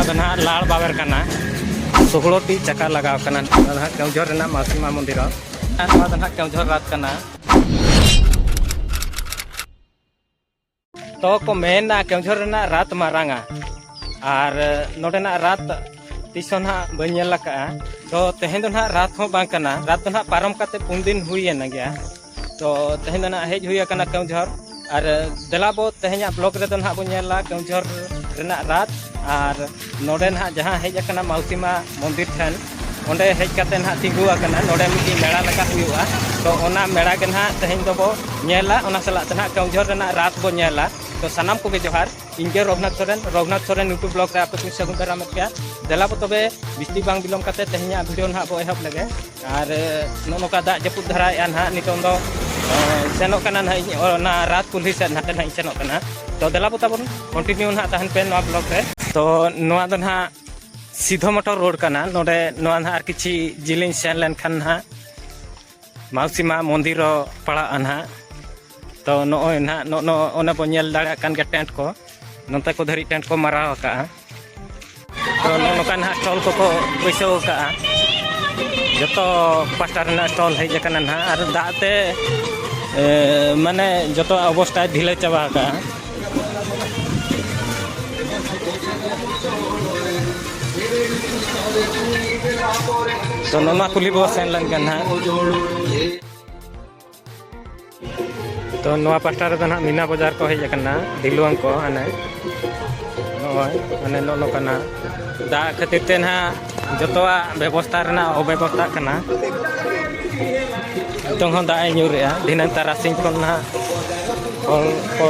ᱱᱚᱣᱟ ᱫᱚ ᱱᱟᱦᱟᱜ ᱞᱟᱲ ᱵᱟᱵᱮᱨ ᱠᱟᱱᱟ ᱥᱩᱜᱲᱚᱴᱤ ᱪᱟᱠᱟ ᱞᱟᱜᱟᱣ ᱠᱟᱱᱟ ᱱᱚᱣᱟ ᱱᱟᱦᱟᱜ ᱠᱮᱣᱡᱷᱚᱨ ᱨᱮᱱᱟᱜ ᱢᱟᱥᱤᱢᱟ ᱢᱚᱱᱫᱤᱨ ᱟᱨ ᱱᱚᱣᱟ ᱫᱚ ᱱᱟᱦᱟᱜ ᱠᱮᱣᱡᱷᱚᱨ ᱨᱟᱛ ᱠᱟᱱᱟ ᱛᱚ ᱠᱚ ᱢᱮᱱᱟ ᱠᱮᱣᱡᱷᱚᱨ ᱨᱮᱱᱟᱜ ᱨᱟᱛ ᱢᱟᱨᱟᱝᱟ ᱟᱨ ᱱᱚᱰᱮᱱᱟᱜ ᱨᱟᱛ ᱛᱤᱥ ᱦᱚᱸ ᱱᱟᱦᱟᱜ ᱵᱟᱹᱧ ᱧᱮᱞ ᱟᱠᱟᱫᱼᱟ ᱛᱚ ᱛᱮᱦᱮᱧ ᱫᱚ ᱱᱟᱦᱟᱜ ᱨᱟᱛ ᱦᱚᱸ ᱵᱟᱝ ᱠᱟᱱᱟ ᱨᱟᱛ ᱫᱚ ᱱᱟᱦᱟᱜ ᱯᱟᱨᱚᱢ ᱠᱟᱛᱮᱫ ᱯᱩᱱ ᱫᱤᱱ ᱦᱩᱭᱮᱱ ᱜᱮᱭᱟ ᱛᱚ ᱛᱮᱦᱮᱧ ᱫᱚ ᱱᱟᱦᱟᱜ ᱦᱮᱡ ᱦᱩᱭ ᱟᱠᱟᱱᱟ ᱠᱮᱣᱡᱷᱚᱨ ᱟᱨ ᱫᱮᱞᱟ ᱵᱚ ᱛᱮᱦᱮᱧᱟᱜ ᱵᱞᱚᱜ ᱨᱮᱫᱚ ᱱᱟᱦᱟᱜ ᱵᱚ ᱧᱮᱞᱟ ᱠᱮᱣᱡᱷᱚᱨ ᱨᱮᱱᱟᱜ ᱨᱟᱛ ᱟᱨ ᱱᱚᱰᱮ ᱱᱟᱦᱟᱜ ᱡᱟᱦᱟᱸ ᱦᱮᱡ ᱟᱠᱟᱱᱟ ᱢᱟᱣᱥᱤᱢᱟ ᱢᱚᱱᱫᱤᱨ ᱴᱷᱮᱱ ᱚᱸᱰᱮ ᱦᱮᱡ ᱠᱟᱛᱮ ᱱᱟᱦᱟᱜ ᱛᱤᱸᱜᱩ ᱟᱠᱟᱱᱟ ᱱᱚᱰᱮ ᱢᱤᱫᱴᱤᱡ ᱢᱮᱲᱟ ᱞᱮᱠᱟ ᱦᱩᱭᱩᱜᱼᱟ ᱛᱚ ᱚᱱᱟ ᱢᱮᱲᱟ ᱜᱮ ᱱᱟᱦᱟᱜ ᱛᱮᱦᱮᱧ ᱫᱚᱵᱚ ᱧᱮᱞᱟ ᱚᱱᱟ ᱥᱟᱞᱟᱜ ᱛᱮ ᱱᱟᱦᱟᱜ ᱠᱮᱣᱡᱷᱚᱨ ᱨᱮᱱᱟᱜ ᱨᱟᱛ ᱵᱚ ᱧᱮᱞᱟ ᱛᱚ ᱥᱟᱱᱟᱢ ᱠᱚᱜᱮ ᱡᱚᱦᱟᱨ ᱤᱧ ᱜᱮ ᱨᱚᱜᱷᱩᱱᱟᱛᱷ ᱥᱚᱨᱮᱱ ᱨᱚᱜᱷᱩᱱᱟᱛᱷ ᱥᱚᱨᱮᱱ ᱤᱭᱩᱴᱩᱵᱽ ᱵᱞᱚᱜ ᱨᱮ ᱟᱯᱮ ᱠᱚᱧ ᱥᱟᱹᱜᱩᱱ ᱫᱟᱨᱟᱢᱮᱫ ᱯᱮᱭᱟ ᱫᱮᱞᱟ ᱵᱚ ᱛᱚᱵᱮ ᱵᱤᱥᱛᱤ ᱵᱟᱝ ᱵᱤᱞᱚᱢ ᱠᱟᱛᱮ ᱛᱮᱦᱮᱧᱟᱜ ᱵᱷᱤᱰᱤᱭᱳ ᱱᱟᱦᱟᱜ ᱵᱚ ᱮᱦᱚᱵ ᱞᱮᱜᱮ ᱟᱨ ᱱᱚᱜᱼᱚ ᱱᱚᱝᱠᱟ ᱫᱟᱜ ᱡᱟᱹᱯᱩᱫ ᱫᱷᱟᱨᱟᱭᱮᱜᱼᱟ ᱱᱟᱦᱟᱜ ᱱᱤᱛᱚᱝ ᱫᱚ ᱥᱮᱱᱚᱜ ᱠᱟᱱᱟ ᱱᱟᱦᱟᱜ ᱤᱧ ᱚᱱᱟ ᱨᱟᱛ ᱠᱩᱞᱦᱤ ᱥᱮᱫ ᱱᱟᱦᱟᱜ ᱤᱧ ᱥᱮᱱᱚᱜ ᱠᱟᱱᱟ ᱛᱚ ᱫᱮᱞᱟ ᱵᱚ ᱛᱟᱵᱚᱱ ᱠᱚᱱᱴᱤᱱᱤᱭᱩ ᱱᱟᱦᱟᱜ ᱛᱟᱦᱮᱱ ᱯᱮ ᱱᱚᱣᱟ ᱵᱞᱚᱜ ᱨᱮ ᱛᱚ ᱱᱚᱣᱟ ᱫᱚ ᱱᱟᱦᱟᱜ ᱥᱤᱫᱷᱚ ᱢᱚᱴᱚᱨ ᱨᱳᱰ ᱠᱟᱱᱟ ᱱᱚᱰᱮ ᱱᱚᱣᱟ ᱱᱟᱦᱟᱜ ᱟᱨ ᱠᱤᱪᱷᱤ ᱡᱤᱞᱤᱧ ᱥᱮᱱ ᱞᱮᱱᱠᱷᱟᱱ ᱱᱟᱦᱟᱜ ᱢᱟᱣᱥᱤ ᱢᱟ ᱢᱚᱱᱫᱤᱨ ᱦᱚᱸ ᱯᱟᱲᱟᱜᱼᱟ ᱱᱟᱦᱟᱜ ᱛᱚ ᱱᱚᱜᱼᱚᱭ ᱱᱟᱦᱟᱜ ᱱᱚᱜᱼᱚ ᱱᱚᱜᱼᱚ ᱚᱱᱟ ᱵᱚᱱ ᱧᱮᱞ ᱫᱟᱲᱮᱭᱟᱜ ᱠᱟᱱ ᱜᱮᱭᱟ ᱴᱮᱱᱴ ᱠᱚ ᱱᱚᱛᱮ ᱠᱚ ᱫᱷᱟᱹᱨᱤᱡ ᱴᱮᱱᱴ ᱠᱚ ᱢᱟᱨᱟᱣ ᱟᱠᱟᱜᱼᱟ ᱛᱚ ᱱᱚᱜᱼᱚ ᱱᱚᱝᱠᱟ ᱱᱟᱦᱟᱜ ᱴᱚᱞ ᱠᱚᱠᱚ ᱵᱟᱹᱭᱥᱟᱹᱣ ᱟᱠᱟᱜᱼᱟ ᱡᱚᱛᱚ ᱯᱟᱥᱴᱟ ᱨᱮᱱᱟᱜ ᱴᱚᱞ ᱦᱮᱡ ᱟᱠᱟᱱᱟ ᱱᱟᱦᱟᱜ ᱟᱨ ᱫᱟᱜ ᱛᱮ ᱮ, ᱢᱟᱱᱮ ᱡᱚᱛᱚ ᱚᱵᱚᱥᱛᱟᱭ ᱰᱷᱤᱞᱟᱹ ᱪᱟᱵᱟ ᱟᱠᱟᱜᱼᱟ ᱛᱚ ᱱᱚᱣᱟ ᱠᱩᱞᱦᱤ ᱵᱚᱱ ᱥᱮᱱ ᱞᱮᱱᱠᱷᱟᱱ ᱱᱟᱦᱟᱜ ᱛᱚ ᱱᱚᱣᱟ ᱯᱟᱥᱴᱟ ᱨᱮᱫᱚ ᱱᱟᱦᱟᱜ ᱢᱤᱱᱟ ᱵᱟᱡᱟᱨ ᱠᱚ ᱦᱮᱡ ᱟᱠᱟᱱᱟ ᱰᱷᱤᱞᱣᱟᱝ ᱠᱚ ᱦᱟᱱᱮ ᱱᱚᱜᱼᱚᱭ ᱦᱟᱱᱮ ᱱᱚᱜᱼᱚ ᱱᱚᱝᱠᱟᱱᱟ ᱫᱟᱜ ᱠᱷᱟᱹᱛᱤᱨ ᱛᱮ ᱱᱟᱦᱟᱜ ᱡᱚᱛᱚᱣᱟᱜ ᱵᱮᱵᱚᱥᱛᱷᱟ ᱨᱮᱱᱟᱜ ᱚᱵᱮᱵᱚᱥᱛᱷᱟ ᱠᱟᱱᱟ ᱱᱤᱛᱚᱝ ᱦᱚᱸ ᱫᱟᱜ ᱮ ᱧᱩᱨᱮᱜᱼᱟ ᱫᱷᱤᱱᱟᱹᱝ ᱛᱟᱨᱟᱥᱤᱧ ᱠᱷᱚᱱ ᱱᱟᱦᱟᱜ ᱦᱚᱲ ᱠᱚ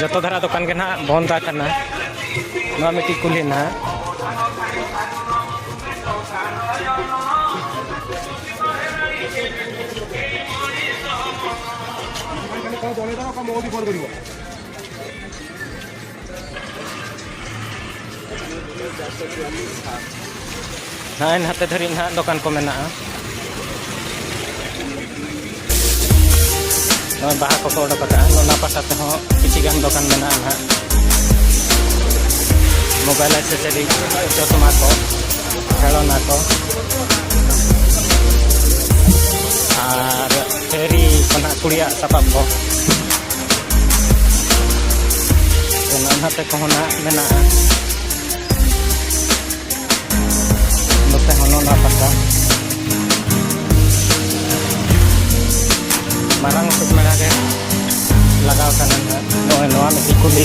ᱡᱚᱛᱚ ᱫᱷᱟᱨᱟ ᱫᱚᱠᱟᱱ ᱜᱮ ᱱᱟᱦᱟᱜ ᱵᱚᱱᱫ ᱟᱠᱟᱱᱟ ᱱᱚᱣᱟ ᱢᱤᱫᱴᱤᱡ ᱠᱩᱞᱦᱤ ᱱᱟᱦᱟᱜ ᱱᱟᱜᱼᱟᱭ ᱱᱟᱛᱮ ᱫᱷᱟᱹᱨᱤᱡ ᱱᱟᱦᱟᱜ ᱫᱚᱠᱟᱱ ᱠᱚ ᱢᱮᱱᱟᱜᱼᱟ ᱱᱚᱜᱼᱚᱭ ᱵᱟᱦᱟ ᱠᱚᱠᱚ ᱚᱰᱚᱠ ᱟᱠᱟᱫᱼᱟ ᱚᱱᱟ ᱯᱟᱥᱟ ᱛᱮᱦᱚᱸ ᱠᱤᱪᱷᱤ ᱜᱟᱱ ᱫᱚᱠᱟᱱ ᱢᱮᱱᱟᱜᱼᱟ ᱱᱟᱦᱟᱜ ᱢᱳᱵᱟᱭᱤᱞ ᱮᱥᱮᱥᱟᱨᱤ ᱪᱚᱥᱢᱟ ᱠᱚ ᱠᱷᱮᱞᱳᱱᱟ ᱠᱚ ᱟᱨ ᱛᱷᱮᱨᱤ ᱠᱚ ᱱᱟᱦᱟᱜ ᱠᱩᱲᱤᱭᱟᱜ ᱥᱟᱯᱟᱵ ᱠᱚ ᱚᱱᱟ ᱱᱟᱛᱮ ᱠᱚᱦᱚᱸ ᱱᱟᱜ ᱢᱮᱱᱟᱜᱼᱟ ᱱᱚᱛᱮ ᱦᱚᱸ ᱱᱚᱱᱟ ᱯᱟᱛᱟ ᱢᱟᱨᱟᱝ ᱩᱛᱟᱹᱨ ᱢᱮᱲᱟ ᱜᱮ ᱞᱟᱜᱟᱣ ᱠᱟᱱᱟ ᱱᱚᱜᱼᱚᱭ ᱱᱚᱣᱟ ᱢᱤᱫᱴᱤᱡ ᱠᱩᱞᱤ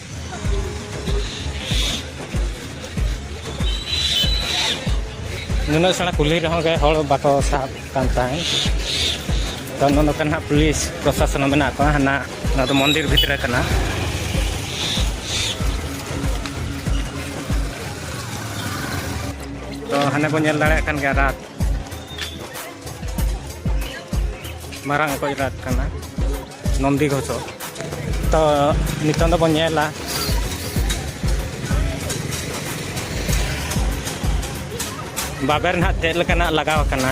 ᱱᱩᱱᱟᱹᱜ ᱥᱮᱬᱟ ᱠᱩᱞᱦᱤ ᱨᱮᱦᱚᱸ ᱜᱮ ᱦᱚᱲ ᱵᱟᱠᱚ ᱥᱟᱵ ᱠᱟᱱ ᱛᱟᱦᱮᱸᱫ ᱛᱚ ᱱᱚᱜᱼᱚ ᱱᱚᱝᱠᱟ ᱱᱟᱦᱟᱜ ᱯᱩᱞᱤᱥ ᱯᱨᱚᱥᱟᱥᱚᱱ ᱦᱚᱸ ᱢᱮᱱᱟᱜ ᱠᱚᱣᱟ ᱦᱟᱱᱟ ᱱᱚᱣᱟ ᱫᱚ ᱢᱚᱱᱫᱤᱨ ᱵᱷᱤᱛᱨᱤ ᱠᱟᱱᱟ ᱛᱚ ᱦᱟᱱᱮ ᱵᱚᱱ ᱧᱮᱞ ᱫᱟᱲᱮᱭᱟᱜ ᱠᱟᱱ ᱜᱮᱭᱟ ᱨᱟᱛ ᱢᱟᱨᱟᱝ ᱚᱠᱚᱡ ᱨᱟᱛ ᱠᱟᱱᱟ ᱱᱚᱱᱫᱤ ᱜᱷᱚᱥᱚ ᱛᱚ ᱱᱤᱛᱚᱝ ᱫᱚᱵᱚᱱ ᱧᱮᱞᱟ ᱵᱟᱵᱮᱨ ᱱᱟᱦᱟᱜ ᱪᱮᱫ ᱞᱮᱠᱟᱱᱟᱜ ᱞᱟᱜᱟᱣ ᱟᱠᱟᱱᱟ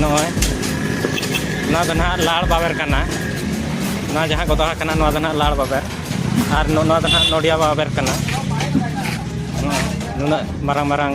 ᱱᱚᱜᱼᱚᱭ ᱱᱚᱣᱟ ᱫᱚ ᱱᱟᱦᱟᱜ ᱞᱟᱲ ᱵᱟᱵᱮᱨ ᱠᱟᱱᱟ ᱱᱚᱣᱟ ᱡᱟᱦᱟᱸ ᱠᱚ ᱫᱚᱦᱚ ᱠᱟᱱᱟ ᱱᱚᱣᱟ ᱫᱚ ᱱᱟᱦᱟᱜ ᱞᱟᱲ ᱵᱟᱵᱮᱨ ᱟᱨ ᱱᱚᱣᱟ ᱫᱚ ᱱᱟᱦᱟᱜ ᱱᱚᱰᱤᱭᱟ ᱵᱟᱵᱮᱨ ᱠᱟᱱᱟ ᱱᱩᱱᱟᱹᱜ ᱢᱟᱨᱟᱝ ᱢᱟᱨᱟᱝ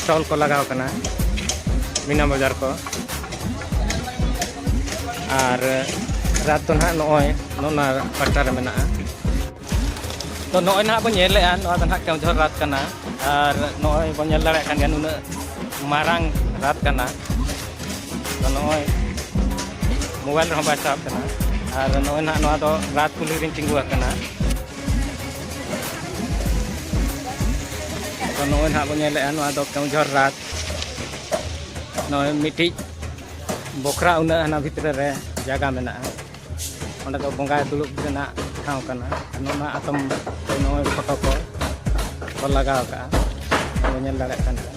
ᱥᱴᱚᱞ ᱠᱚ ᱞᱟᱜᱟᱣ ᱠᱟᱱᱟ ᱢᱤᱱᱟ ᱵᱟᱡᱟᱨ ᱠᱚ ᱟᱨ ᱨᱟᱛ ᱫᱚ ᱱᱟᱦᱟᱜ ᱱᱚᱜᱼᱚᱭ ᱱᱚᱣᱟ ᱯᱟᱴᱟ ᱨᱮ ᱢᱮᱱᱟᱜᱼᱟ ᱛᱚ ᱱᱚᱜᱼᱚᱭ ᱱᱟᱦᱟᱜ ᱵᱚᱱ ᱧᱮᱞᱮᱜᱼᱟ ᱱᱚᱣᱟ ᱫᱚ ᱱᱟᱦᱟᱜ ᱠᱮᱣᱡᱷᱚᱨ ᱨᱟᱛ ᱠᱟᱱᱟ ᱟᱨ ᱱᱚᱜᱼᱚᱭ ᱵᱚᱱ ᱧᱮᱞ ᱫᱟᱲᱮᱭᱟᱜ ᱠᱟᱱ ᱜᱮᱭᱟ ᱱᱩᱱᱟᱹᱜ ᱢᱟᱨᱟᱝ ᱨᱟᱛ ᱠᱟᱱᱟ ᱛᱚ ᱱᱚᱜᱼᱚᱭ ᱢᱳᱵᱟᱭᱤᱞ ᱨᱮᱦᱚᱸ ᱵᱟᱭ ᱥᱟᱵ ᱠᱟᱱᱟ ᱟᱨ ᱱᱚᱜᱼᱚᱭ ᱱᱟᱦᱟᱜ ᱱᱚᱣᱟ ᱫᱚ ᱨᱟᱛ ᱠᱩᱞᱦᱤ ᱨᱤᱧ ᱛᱤᱸᱜᱩ ᱟᱠᱟᱱᱟ ᱛᱚ ᱱᱚᱜᱼᱚᱭ ᱱᱟᱦᱟᱜ ᱵᱚᱱ ᱧᱮᱞᱮᱫᱼᱟ ᱱᱚᱣᱟ ᱫᱚ ᱠᱮᱣᱡᱷᱚᱨ ᱨᱟᱛ ᱱᱚᱜᱼᱚᱭ ᱢᱤᱫᱴᱤᱡ ᱵᱚᱠᱷᱨᱟ ᱩᱱᱟᱹᱜ ᱦᱟᱱᱟ ᱵᱷᱤᱛᱨᱤ ᱨᱮ ᱡᱟᱭᱜᱟ ᱢᱮᱱᱟᱜᱼᱟ ᱚᱸᱰᱮ ᱫᱚ ᱵᱚᱸᱜᱟᱭ ᱫᱩᱲᱩᱵ ᱨᱮᱱᱟᱜ ᱴᱷᱟᱶ ᱠᱟᱱᱟ ᱱᱚᱣᱟ ᱟᱛᱚᱢ ᱱᱚᱜᱼᱚᱭ ᱯᱷᱳᱴᱳ ᱠᱚ ᱞᱟᱜᱟᱣ ᱠᱟᱜᱼᱟ ᱵᱚᱱ ᱧᱮᱞ ᱫᱟᱲᱮᱭᱟᱜ ᱠᱟᱱ ᱜᱮᱭᱟ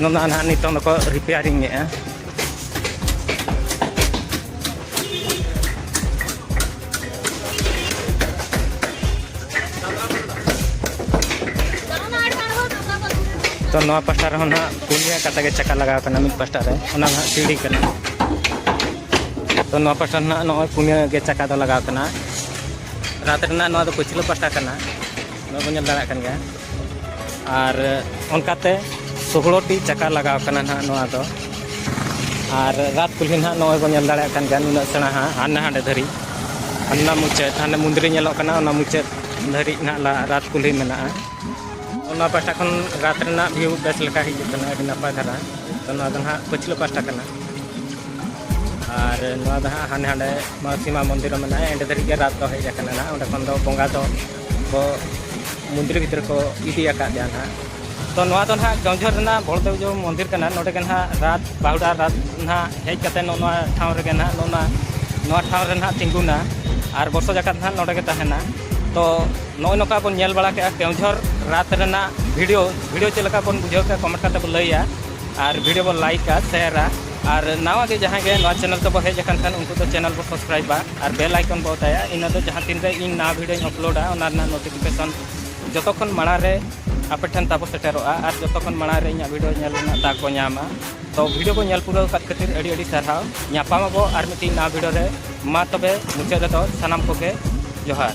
ᱱᱚᱣᱟ ᱱᱟᱦᱟᱜ ᱱᱤᱛᱚᱝ ᱫᱚᱠᱚ ᱨᱤᱯᱮᱭᱟᱨᱤᱝ ᱮᱫᱼᱟ ᱛᱚ ᱱᱚᱣᱟ ᱯᱟᱥᱴᱟ ᱨᱮᱦᱚᱸ ᱱᱟᱦᱟᱜ ᱯᱩᱱᱭᱟ ᱠᱟᱛᱮ ᱜᱮ ᱪᱟᱠᱟ ᱞᱟᱜᱟᱣ ᱠᱟᱱᱟ ᱢᱤᱫ ᱯᱟᱥᱴᱟ ᱨᱮ ᱚᱱᱟ ᱱᱟᱦᱟᱜ ᱥᱤᱲᱤ ᱠᱟᱱᱟ ᱛᱚ ᱱᱚᱣᱟ ᱯᱟᱥᱴᱟ ᱱᱟᱦᱟᱜ ᱱᱚᱜᱼᱚᱭ ᱯᱩᱱᱭᱟ ᱜᱮ ᱪᱟᱠᱟ ᱫᱚ ᱞᱟᱜᱟᱣ ᱠᱟᱱᱟ ᱨᱟᱛ ᱨᱮᱱᱟᱜ ᱱᱚᱣᱟ ᱫᱚ ᱯᱟᱹᱪᱷᱞᱟᱹ ᱯᱟᱥᱴᱟ ᱠᱟᱱᱟ ᱱᱚᱣᱟ ᱵᱚᱱ ᱧᱮᱞ ᱫᱟᱲᱮᱭᱟᱜ ᱠᱟᱱ ᱜᱮᱭᱟ ᱟᱨ ᱚᱱᱠᱟᱛᱮ ᱥᱳᱦᱞᱳᱴᱤ ᱪᱟᱠᱟ ᱞᱟᱜᱟᱣ ᱠᱟᱱᱟ ᱱᱟᱦᱟᱜ ᱱᱚᱣᱟ ᱫᱚ ᱟᱨ ᱨᱟᱛ ᱠᱩᱞᱦᱤ ᱱᱟᱦᱟᱜ ᱱᱚᱜᱼᱚᱭ ᱵᱚᱱ ᱧᱮᱞ ᱫᱟᱲᱮᱭᱟᱜ ᱠᱟᱱ ᱜᱮᱭᱟ ᱱᱩᱱᱟᱹᱜ ᱥᱮᱬᱟ ᱦᱟᱸᱜ ᱦᱟᱱᱮ ᱦᱟᱸᱰᱮ ᱫᱷᱟᱹᱨᱤᱡ ᱦᱟᱱᱟ ᱢᱩᱪᱟᱹᱫ ᱦᱟᱱᱮ ᱢᱩᱱᱫᱨᱤ ᱧᱮᱞᱚᱜ ᱠᱟᱱᱟ ᱚᱱᱟ ᱢᱩᱪᱟᱹᱫ ᱫᱷᱟᱹᱨᱤᱡ ᱱᱟᱦᱟᱜ ᱨᱟᱛ ᱠᱩᱞᱦᱤ ᱢᱮᱱᱟᱜᱼᱟ ᱚᱱᱟ ᱯᱟᱦᱴᱟ ᱠᱷᱚᱱ ᱨᱟᱛ ᱨᱮᱱᱟᱜ ᱵᱷᱤᱭᱩ ᱵᱮᱥ ᱞᱮᱠᱟ ᱦᱤᱡᱩᱜ ᱠᱟᱱᱟ ᱟᱹᱰᱤ ᱱᱟᱯᱟᱭ ᱫᱷᱟᱨᱟ ᱛᱚ ᱱᱚᱣᱟ ᱫᱚ ᱱᱟᱦᱟᱜ ᱯᱟᱹᱪᱷᱞᱟᱹ ᱯᱟᱦᱴᱟ ᱠᱟᱱᱟ ᱟᱨ ᱱᱚᱣᱟ ᱫᱚ ᱦᱟᱸᱜ ᱦᱟᱱᱮ ᱦᱟᱸᱰᱮ ᱢᱟᱥᱤᱢᱟ ᱢᱚᱱᱫᱤᱨ ᱢᱮᱱᱟᱜᱼᱟ ᱮᱸᱰᱮ ᱫᱷᱟᱹᱨᱤᱡ ᱜᱮ ᱨᱟᱛ ᱫᱚ ᱦᱮᱡ ᱟᱠᱟᱱᱟ ᱱᱟᱦᱟᱜ ᱚᱸᱰᱮ ᱠᱷᱚᱱ ᱫᱚ ᱵᱚᱸᱜᱟ ᱫᱚ ᱠᱚ ᱢᱚᱱᱫᱤᱨ ᱵᱷᱤᱛᱨᱤ ᱠᱚ ᱤᱫᱤ ᱟᱠᱟᱫᱮᱭᱟ ᱱᱟᱦᱟᱜ ᱛᱚ ᱱᱚᱣᱟ ᱫᱚ ᱱᱟᱦᱟᱜ ᱜᱟᱶᱡᱷᱚᱨ ᱨᱮᱱᱟᱜ ᱵᱚᱲᱫᱮᱵᱡᱚ ᱢᱚᱱᱫᱤᱨ ᱠᱟᱱᱟ ᱱᱚᱰᱮ ᱜᱮ ᱱᱟᱦᱟᱜ ᱨᱟᱛ ᱵᱟᱦᱩᱰᱟ ᱨᱟᱛ ᱱᱟᱦᱟᱜ ᱦᱮᱡ ᱠᱟᱛᱮ ᱱᱚᱜᱼᱚ ᱱᱚᱣᱟ ᱴᱷᱟᱶ ᱨᱮᱜᱮ ᱱᱟᱦᱟᱜ ᱱᱚᱜᱼᱚ ᱱᱚᱣᱟ ᱱᱚᱣᱟ ᱴᱷᱟᱶ ᱨᱮ ᱱᱟᱦᱟᱜ ᱛᱤᱸᱜᱩᱱᱟ ᱟᱨ ᱵᱚᱨᱥᱚ ᱡᱟᱠᱟᱛ ᱱᱟᱦᱟᱜ ᱱᱚᱰᱮ ᱜᱮ ᱛᱟᱦᱮᱱᱟ ᱛᱚ ᱱᱚᱜᱼᱚᱭ ᱱᱚᱝᱠᱟ ᱵᱚᱱ ᱧᱮᱞ ᱵᱟᱲᱟ ᱠᱮᱜᱼᱟ ᱜᱟᱶᱡᱷᱚᱨ ᱨᱟᱛ ᱨᱮᱱᱟᱜ ᱵᱷᱤᱰᱤᱭᱳ ᱵᱷᱤᱰᱤᱭᱳ ᱪᱮᱫ ᱞᱮᱠᱟ ᱵᱚᱱ ᱵᱩᱡᱷᱟᱹᱣ ᱠᱮᱜᱼᱟ ᱠᱚᱢᱮᱱᱴ ᱠᱟᱛᱮ ᱵᱚᱱ ᱞᱟᱹᱭᱟ ᱟᱨ ᱵᱷᱤᱰᱤᱭᱳ ᱵᱚᱱ ᱞᱟᱭᱤᱠᱟ ᱥᱮᱭᱟᱨᱟ ᱟᱨ ᱱᱟᱣᱟ ᱜᱮ ᱡᱟᱦᱟᱸᱭ ᱜᱮ ᱱᱚᱣᱟ ᱪᱮᱱᱮᱞ ᱛᱮᱵᱚᱱ ᱦᱮᱡ ᱟᱠᱟᱱ ᱠᱷᱟᱱ ᱩᱱᱠᱩ ᱫᱚ ᱪᱮᱱᱮᱞ ᱵᱚᱱ ᱥᱟᱵᱥᱠᱨᱟᱭᱤᱵᱟ ᱟᱨ ᱵᱮᱞ ᱟᱭᱠᱚᱱ ᱵᱚ ᱚᱛᱟᱭᱟ ᱤᱱᱟᱹ ᱫᱚ ᱡᱟᱦᱟᱸ ᱛᱤᱱ ᱨᱮ ᱤᱧ ᱱᱟᱣᱟ ᱵᱷᱤᱰᱤᱭᱳᱧ ᱟᱯᱞᱳᱰᱟ ᱚᱱᱟ ᱨᱮᱱᱟᱜ ᱱᱳᱴᱤᱯᱷᱤᱠᱮᱥᱚᱱ ᱡᱚᱛᱚ ᱠᱷᱚᱱ ᱢᱟᱲᱟᱝ ᱨᱮ ᱟᱯᱮ ᱴᱷᱮᱱ ᱛᱟᱵᱚ ᱥᱮᱴᱮᱨᱚᱜᱼᱟ ᱟᱨ ᱡᱚᱛᱚ ᱠᱷᱚᱱ ᱢᱟᱲᱟᱝ ᱨᱮ ᱤᱧᱟᱹᱜ ᱵᱷᱤᱰᱤᱭᱳ ᱧᱮᱞ ᱨᱮᱱᱟᱜ ᱫᱟᱜ ᱠᱚ ᱧᱟᱢᱟ ᱛᱚ ᱵᱷᱤᱰᱤᱭᱳ ᱠᱚ ᱧᱮᱞ ᱯᱩᱨᱟᱹᱣ ᱠᱟᱫ ᱠᱷᱟᱹᱛᱤᱨ ᱟᱹᱰᱤ ᱟᱹᱰᱤ ᱥᱟᱨᱦᱟᱣ ᱧᱟᱯᱟᱢ ᱟᱵᱚ ᱟᱨ ᱢᱤᱫᱴᱤᱡ ᱱᱟᱣᱟ ᱵᱷᱤᱰᱤᱭᱳ ᱨᱮ ᱢᱟ ᱛᱚᱵᱮ ᱢᱩᱪᱟᱹᱫ ᱨᱮᱫᱚ ᱥᱟᱱᱟᱢ ᱠᱚᱜᱮ ᱡᱚᱦᱟᱨ